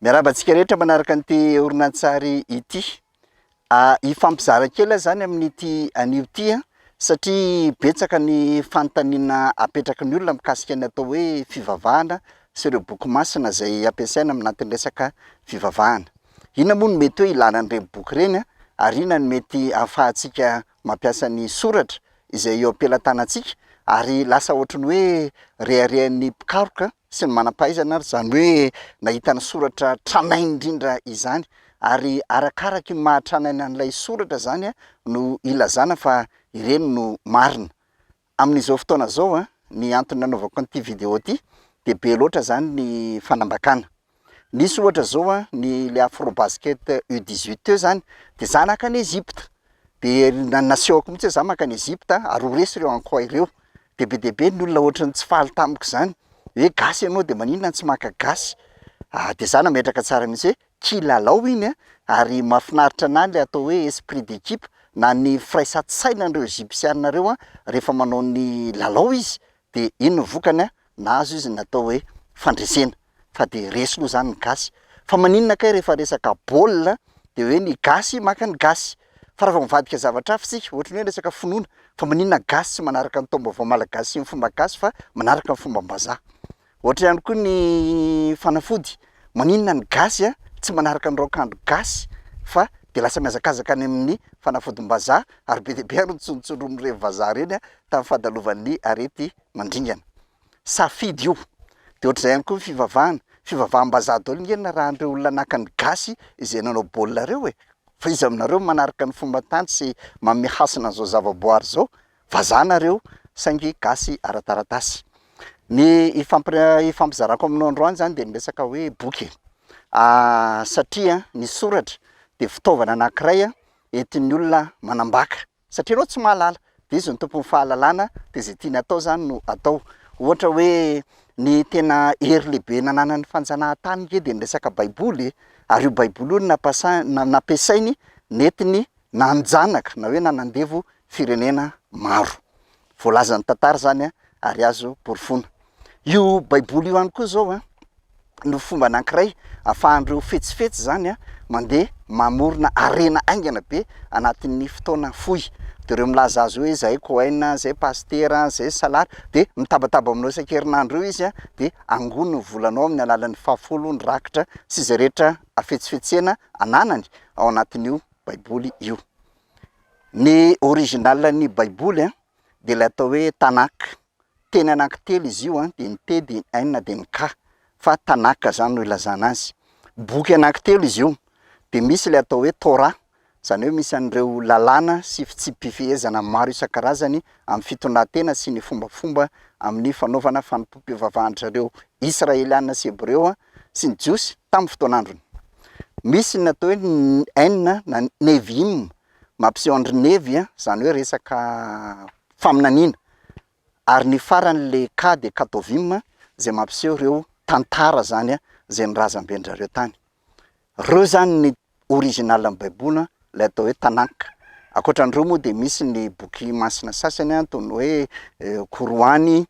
Miarahaba antsika rehetra manaraka an'ity horonantsary ity. Hifampizara kely aho izany amin'ity anio ity satria betsaka ny fanontaniana apetraky ny olona mikasika ny atao hoe fivavahana sy ireo boky masina izay ampiasaina amin'antony resaka fivavahana. Inona moa no mety hoe ilana an'ireny boky ireny ary inona no mety ahafahantsika mampiasa ny soratra izay eo am-pelatanantsika ary lasa ohatry ny hoe reharehan'ny mpikaroka sy ny manam-pahaizana ary izany hoe nahita ny soratra tranainy indrindra izany ary arakaraka io maha-tranainy an'ilay soratra izany no ilazana fa ireny no marina. Amin'izao fotoana izao, ny antony nanaovako an'ity vidéo ity dia be loatra izany ny fanambakana. Misy ohatra zao a, ny le Afrobasket U 18 teo zany de za nankany Egypte, de na- nasehoko mihitsy hoe za mankany Egypte ary ho resy reo Ankoay ireo, de be dia be ny olona ohatry ny tsy faly tamiko zany, hoe gasy ianao de maninona tsy maka gasy? ah de za nametraka tsara mihitsy hoe kilalao iny a, ary mahafinaritra anahy le atao hoe esprit d'équipe na ny firaisan-tsainan'ireo Egypsiana reo a, rehefa manao ny lalao izy de iny ny vokany a, nahazo izy ny atao hoe fandresena. fa dia resy moa zany ny gasy fa maninona kay rehefa resaka baolina dia hoe ny gasy maka ny gasy fa raha vao mivadika zavatra hafa isika ohatry ny hoe resaka finoana fa maninona gasy tsy manaraka ny taom-baovao malagasy sy ny fomba gasy fa manaraka ny fombam-bazaha ohatra ihany koa ny fanafody maninona ny gasy a tsy manaraka ny raokandro gasy fa dia lasa mihazakazaka any amin'ny fanafodim-bazaha ary be dia be ary ny tsontsoro mirevy vazaha ireny a tamin'ny fahadalovan'ny arety mandringana safidy io de ohatr'izay ihany koa ny fivavahana, fivavaham-bazaha daholo nge narahan'ireo olona naka ny gasy izay nanao baolina ireo e! fa iza aminareo manaraka ny fomban-tany sy manome hasina an'izao zava-boary izao? vazaha nareo saingy gasy ara-taratasy. Ny hifampir- hifampizarako aminao androany zany de ny resaka hoe boky e! satria ny soratra de fitaovana anakiray entin'ny olona manambaka, Satria ianao tsy mahalala. Dia izy no tompon'ny fahalalana, dia izay tiany atao izany no atao. Ohatra hoe ny tena hery lehibe nananan'ny fanjanahantany nge dia ny resaka baiboly e! Ary io baiboly io no nampasainy, nampiasainy, nentiny nanjanaka na hoe nanandevo firenena maro. Voalazan'ny tantara izany ary azo porofoina. Io Baiboly io ihany koa izao no fomba anankiray ahafahan'ireo fetsifetsy izany mandeha mamorona harena haingana be anatin'ny fotoana fohy. Dia ireo milaza azy hoe izahay Cohen, izahay Pasitera, izahay Salar, dia mitabataba aminao isan-kerinandro eo izy dia angono ny volanao amin'ny alalan'ny fahafolo, ny rakitra sy izay rehetra hafetsifetsena ananany ao anatin'io Baiboly io. Ny original ny baiboly an, dia ilay atao hoe Tanakh, teny anaky telo izy io an, dia ny te, dia ny aina, dia ny kha, fa Tanakh izany no ilazana azy. Boky anaky telo izy io, dia misy ilay atao hoe Torah, izany hoe misy an'ireo lalàna sy fitsipi-pifehezana maro isan-karazany amin'ny fitondran-tena sy ny fombafomba amin'ny fanaovana fanompoam-pivavahan-dry zareo Israeliana sy Hebreo an, sy ny Jiosy tamin'ny fotoan'androny. Misy ny atao hoe ny Ain na ny Nevi'im, mampiseho an-dry Nevy, izany hoe resaka faminaniana, ary ny farany ilay Ka dia Katovim, izay mampiseho ireo tantara izany izay ny razamben-dry zareo tany. Ireo izany ny originalin'ny Baiboly, ilay atao hoe Tanakh. Ankoatra an'ireo moa dia misy ny boky masina sasany toy ny hoe Koroany,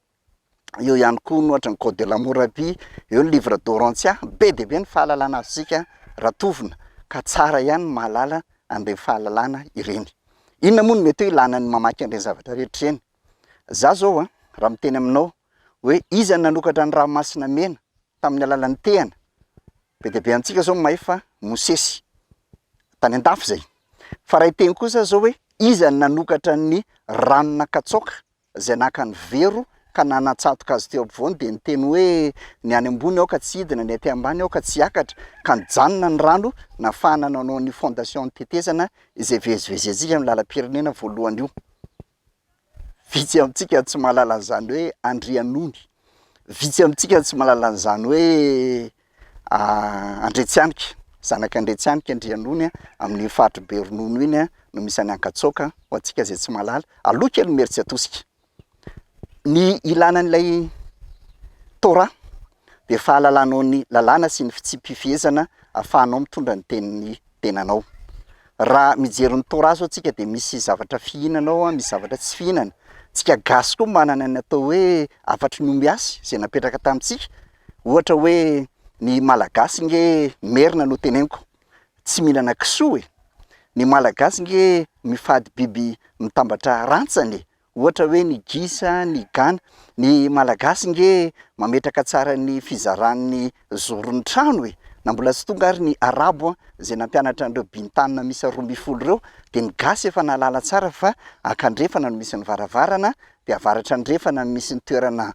eo ihany koa no ohatra ny code de l'hammurabi, eo ny livre d'orontia, be dia be ny fahalalana azontsika raha tovona ka tsara ihany ny mahalala an'ireny fahalalana ireny. Inona moa no mety hoe ilana ny mamaky an'ireny zavatra rehetra ireny? Izaho izao an, raha miteny aminao hoe iza no nanokatra ny ranomasina mena tamin'ny alalan'ny tehana? be dia be amintsika izao ny mahay fa Mosesy tany an-dafy izay, fa raha hiteny kosa aho izao hoe iza no nanokatra ny rano nankatsaoka izay naka ny vero ka nanatsatoka azy teo ampovoany dia niteny hoe, Ny any ambony aoka tsy hidina, ny aty ambany aoka tsy hiakatra, ka nijanona ny rano nahafahana nanao an'io fondation tetezana izay ivezivezentsika amin'ny lalam-pirenena voalohany io. Vitsy amintsika no tsy mahalala an'izany hoe Andrianony. Vitsy amintsika no tsy mahalala an'izany hoe Andriatsianika, Zanak'i Andriatsianika Andrianony amin'iny faritr'i Beronono iny no misy an'i Ankatsoaka, ho antsika izay tsy mahalala, aloha kely Imerintsiatosika. Ny ilàna an'ilay Torah dia fahalalanao ny lalàna sy ny fitsipi-pifehezana ahafahanao mitondra ny tenin'ny tenanao. Raha mijery ny Torah izao tsika dia misy zavatra fihinana ao, misy zavatra tsy fihinana. Tsika gasy koa manana ny atao hoe hafatry ny ombiasy izay napetraka tamintsika. Ohatra hoe ny malagasy nge merina no teneniko tsy mihinana kisoa e! Ny malagasy nge mifady biby mitambatra rantsany e! Ohatra hoe ny gisa, ny gana. Ny malagasy nge mametraka tsara ny fizaran'ny zoron'ny trano e! Na mbola tsy tonga ary ny arabo zay nampianatra an'ireo bintanina miisa roa ambin'ny folo ireo dia ny gasy efa nahalala tsara fa ankandrefana no misy ny varavarana dia avaratra andrefana no misy ny toerana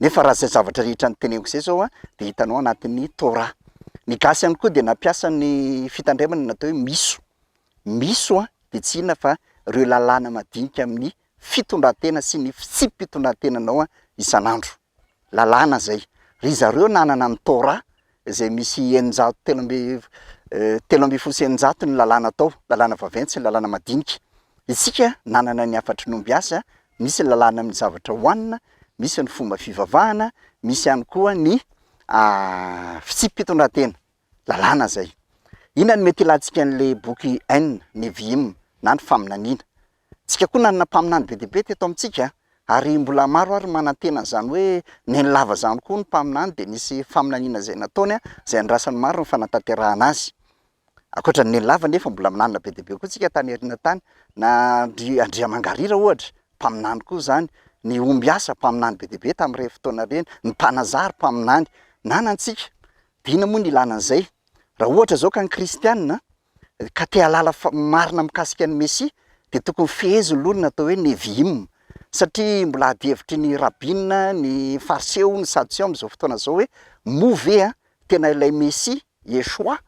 Nefa raha izay zavatra rehetra noteneniko izay izao an, dia hitanao anatin'ny Torah. Ny gasy ihany koa dia nampiasa ny fitandremana natao hoe miso. Miso an, dia tsy inona fa ireo lalàna madinika amin'ny fitondran-tena sy ny fitsipi-pitondran-tenanao isan'andro. Lalàna izay. Ry zareo nanana ny Torah izay misy eninjato telo amby telo ambin'ny folo sy eninjato ny lalàna atao, lalàna vaventy sy ny lalàna madinika. Isika nanana ny hafatr'i Nombiasa, misy ny lalàna amin'ny zavatra hohanina, misy ny fomba fivavahana, misy ihany koa ny fitsipi-pitondrantena, lalàna izay. Inona no mety hilantsika an'ilay boky Ain, Nevi'im na ny faminaniana? Isika koa nanana mpaminany be dia be teto amintsika ary mbola maro ary manantena an'izany hoe neny lava izany koa ny mpaminany dia nisy faminaniana izay nataony izay andrasan'ny maro ny fanatanterahana azy. Ankoatra ny neny lava anefa mbola minanina be dia be koa isika tany aoriana tany na ry Andriamangarira ohatra mpaminany koa izany, ny ombiasa mpaminany be dia be tamin'ireny fotoana ireny, ny mpanazary mpaminany. Nanantsika, dina moa ny ilana an'izay. Raha ohatra izao ka ny kristiana ka te hahalala marina mikasika ny Mesia dia tokony fehezin'ny loha ny atao hoe Nevi'im, satria mbola adihevitry ny Rabin, ny Fariseo, ny Sadoseo amin'izao fotoana izao hoe moa ve tena ilay Mesia, Yeshua,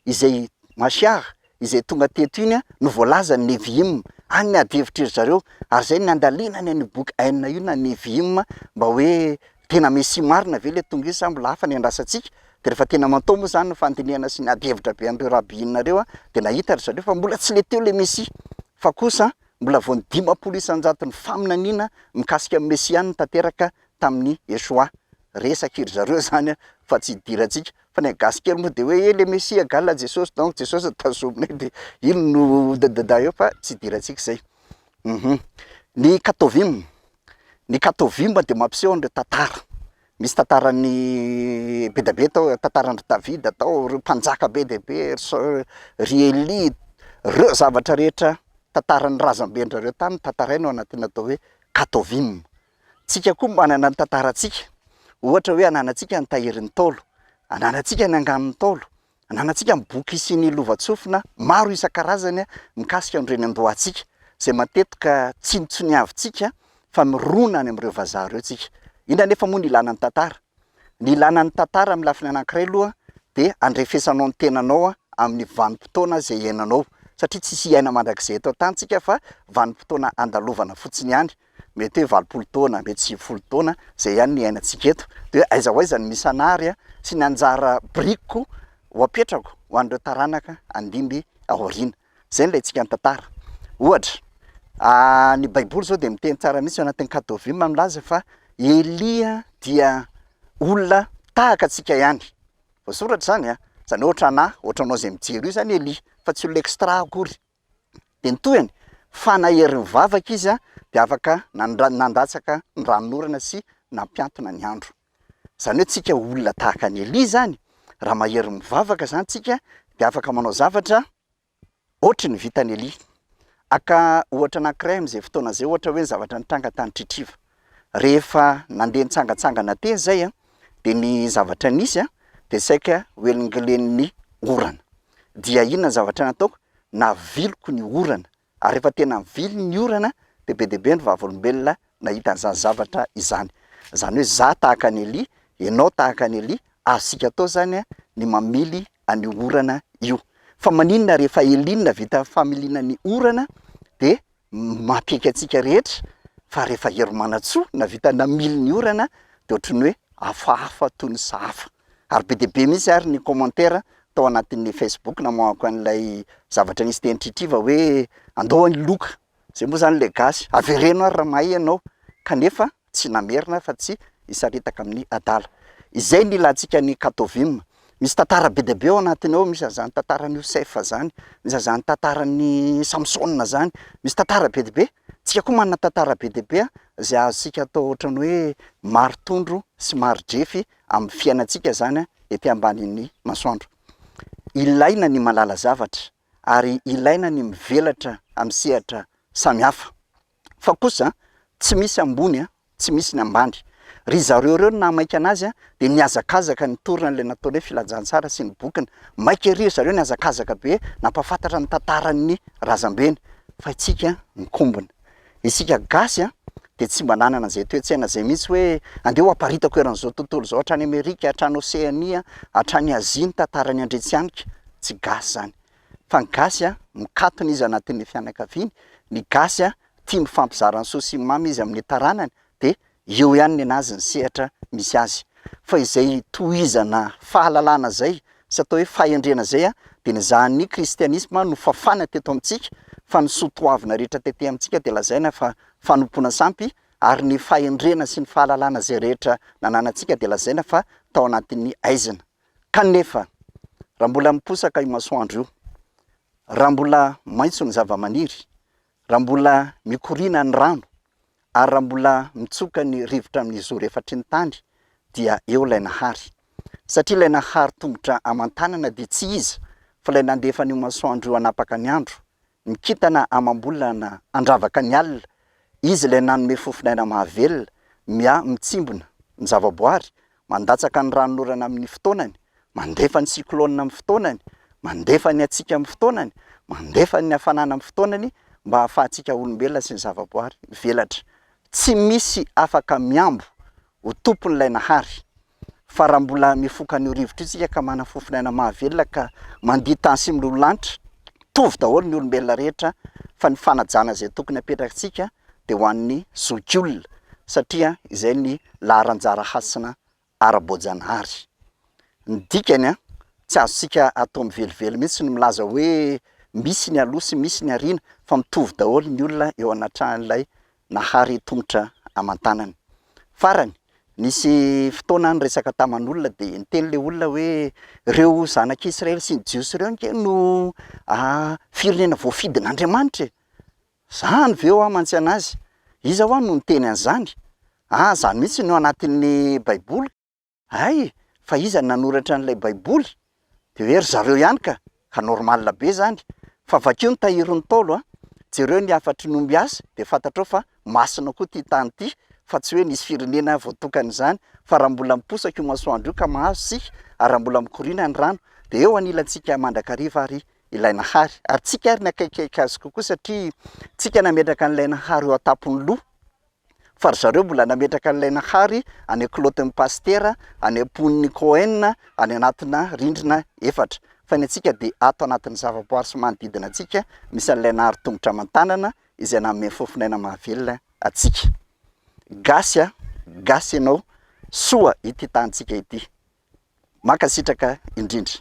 izay, Mashiach, izay tonga teto iny no voalazan'ny Nevi'im? Any ny adihevitry ry zareo, ary izay no niandalinany an'io boky Ein io na Nevi'im mba hoe Tena Mesia marina ve le Tongiz sa mbola hafa ny andrasantsika? Dia rehefa tena mantao moa izany ny fandinihana sy ny adihevitra be an'ireo Rabbinareo dia nahita ry zareo fa mbola tsy le teo le Mesia fa kosa mbola vao ny dimampolo isan-jaton'ny faminaniana mikasika amin'ny Mesianina tanteraka tamin'i Yeshua. Resak'iry zareo izany fa tsy idirantsika. Fa ny an'i gasy kely moa dia hoe eh le Mesia gal Jesosy donc Jesosy no tazominay dia iny no dadada eo fa tsy idirantsika izay. Uhum. Ny Katovim, Ny Kato Vimba dia mampiseho an'ireo tantara. Misy tantaran'ny be dia be tao, tantaran-dry Davida tao, ireo mpanjaka be dia be, ry Saul, ry Elia, ireo zavatra rehetra, tantaran'ny razamben-dRareo tany no tantaraina ao anatin'ny atao hoe Kato Vimba. Tsika koa manana ny tantarantsika, ohatra hoe ananantsika ny tahirin'ny Ntaolo, ananantsika ny anganon'ny Ntaolo, Ananantsika ny boky sy ny lovantsofina maro isan-karazany mikasika ny reniandroantsika, izay matetika tsinontsoniavintsika fa mirona any amin'ireo vazaha ireo tsika. Inona anefa moa ny ilàna ny tantara? Ny ilàna ny tantara amin'ny lafiny anankiray aloha dia andrefesanao ny tenanao amin'ny vanim-potoana izay iainanao, satria tsisy hiaina mandrakizay eto an-tany tsika fa vanim-potoana andalovana fotsiny ihany. Mety hoe valopolo taona, mety sivifolo taona, izay ihany ny iainantsika eto. Dia hoe aiza ho aiza ny misy an'ary sy ny anjara birikiko ho apetrako ho an'ireo taranaka handimby aoriana. Izay no ilaintsika ny tantara. Ohatra, ny Baiboly izao dia miteny tsara mihitsy ao anatin'ny Katôvima no milaza fa Elia dia olona tahaka antsika ihany. Voasoratra izany an! Izany hoe ohatran'ahy, ohatranao izay mijery io izany Elia, fa tsy olona extra akory. Dia ny tohiny, fa nahery nivavaka izy dia afaka nandatsaka ny ranonorana sy nampiantona ny andro. Izany hoe tsika olona tahaka an'i Elia izany, raha mahery mivavaka izany tsika dia afaka manao zavatra ohatry ny vitan'i Elia. Haka ohatra anankiray amin'izay fotoana izay, ohatra hoe ny zavatra nitranga tany Tritriva. Rehefa nandeha nitsangantsangana teny izay an, dia ny zavatra nisy an, dia saika hoelingelen'ny orana. Dia inona ny zavatra nataoko? Naviliko ny orana. Ary rehefa tena nivily ny orana, dia be dia be ny vavolombelona nahita an'izany zavatra izany. Izany hoe izaho tahaka an'i Elia, ianao tahaka an'i Elia, azontsika atao izany an, ny mamily an'io orana io. Fa maninona rehefa Elia no nahavita familiana ny orana, dia Mampiaiky antsika rehetra fa rehefa hery manatsoa na vita namily ny orana dia ohatry ny hoe hafahafa toy ny sahafa. Ary be dia be mihitsy ary ny commentaires tao anatin'ny Facebook namoahako an'ilay zavatra nisy teny Tritriva hoe andao any loka, izay moa izany ilay gasy, avereno ary raha mahay ianao. Kanefa Tsy namerina fa tsy hisaritaka amin'ny adala. Izay ny ilantsika any Katovim. Misy tantara be dia be ao anatiny ao, misy an'izany tantaran'i Iosef izany, misy an'izany tantaran'i Samsona izany, misy tantara be dia be. Tsika koa manana tantara be dia be izay azontsika atao ohatran'ny hoe mari-tondro sy mari-drefy amin'ny fiainantsika izany ety ambanin'ny masoandro. Ilaina ny mahalala zavatra ary ilaina ny mivelatra amin'ny sehatra samihafa. Fa kosa tsy misy ambony a, tsy misy ny ambany. Ry zareo ireo no nahamaika anazy a, dia nihazakazaka nitorina an'ilay nataony hoe Filazantsara sy ny bokiny. Maika ery ry zareo nihazakazaka be nampahafantatra ny tantaran'ny razambeny. Fa itsika mikombona. Isika gasy a, dia tsy mba nanana izay toe-tsaina izay mihitsy hoe andeha ho aparitako eran'izao tontolo izao hatrany Amerika, hatrany Oseania, hatrany Azia ny tantaran'ny Andriantsihaniko. Tsy gasy izany. fa ny gasy a mikatona izy anatin'ny fianakaviany, ny gasy a tia mifampizara ny soa sy ny mamy izy amin'ny taranany dia eo ihany nenazy ny sehatra misy azy. Fa izay tohizana fahalalana izay sy atao hoe fahendrena izay a dia ny zahan'ny kristianisma no fafana teto amintsika fa ny soa toavina rehetra tety amintsika dia lazaina fa fanompoana sampy ary ny fahendrena sy ny fahalalana izay rehetra nananantsika dia lazaina fa tao anatin'ny aizina. Kanefa, raha mbola miposaka io masoandro io, raha mbola maitso ny zavamaniry, raha mbola mikoriana ny rano, ary raha mbola mitsoka ny rivotra amin'ny zoro efatry ny tany, dia eo ilay Nahary. Satria ilay Nahary tongotra aman-tanana dia tsy iza fa ilay nandefa an'io masoandro io hanapaka ny andro, Ny kintana amam-bolana handravaka ny alina, izy ilay nanome fofon'aina mahavelona, mia, mitsimbina ny zavaboary, mandatsaka ny ranon'orana amin'ny fotoanany, mandefa ny cyclone amin'ny fotoanany, mandefa ny hatsiaka amin'ny fotoanany, mandefa ny hafanana amin'ny fotoanany mba hahafahantsika olombelona sy ny zavaboary mivelatra. Tsy misy afaka mihambo ho tompon'ilay Nahary. fa raha mbola mifoka an'io rivotra io isika ka manana fofon'aina mahavelona ka mandia tany sy miloloha lanitra, mitovy daholo ny olombelona rehetra fa ny fanajana izay tokony hapetrakantsika dia ho an'ny zokiolona satria izay ny laharanjara hasina ara-boajanahary. Ny dikany an, tsy azontsika atao mivelively mihitsy ny milaza hoe misy ny aloha sy misy ny aoriana fa mitovy daholo ny olona eo anatran'ilay nahary tongotra aman-tanany. Farany, nisy fotoana niresaka taman'olona dia niteny ilay olona hoe ireo zanak'i Israely sy ny Jiosy ireo ange no firenena voafidin'Andriamanitra e! Izany ve hoa mantsy an'azy? Iza hoa no niteny an'izany? An, izany mihitsy no anatin'ny Baiboly. Hay e! Fa iza no nanoratra an'ilay baiboly? Dia hoe ry zareo ihany ka! Ka normal be izany! Fa vakio ny tahirin'ny Ntaolo a! Jereo ny hafatry ny omby azy dia fantatrao fa masina koa ity tany ity fa tsy hoe nisy firenena voatokana izany fa raha mbola miposaka io masoandro io ka mahazo isika ary raha mbola mikoriana ny rano dia eo anilantsika mandrakariva ary ilay Nahary ary tsika ary ny akaikikaiky azy kokoa satria tsika nametraka an'ilay Nahary eo an-tampon'ny loha fa ry zareo mbola nametraka an'ilay Nahary any an-kilaotin'ny pasitera, any am-pon'ny Cohen, any anatina rindrina efatra. Fa ny antsika dia ato anatin'ny zavaboary sy manodidina antsika misy an'ilay Nahary tongotra aman-tanana izay nanome fofon'aina mahavelona antsika. Gasy a! Gasy ianao! Soa ity tanintsika ity! Mankasitraka indrindra.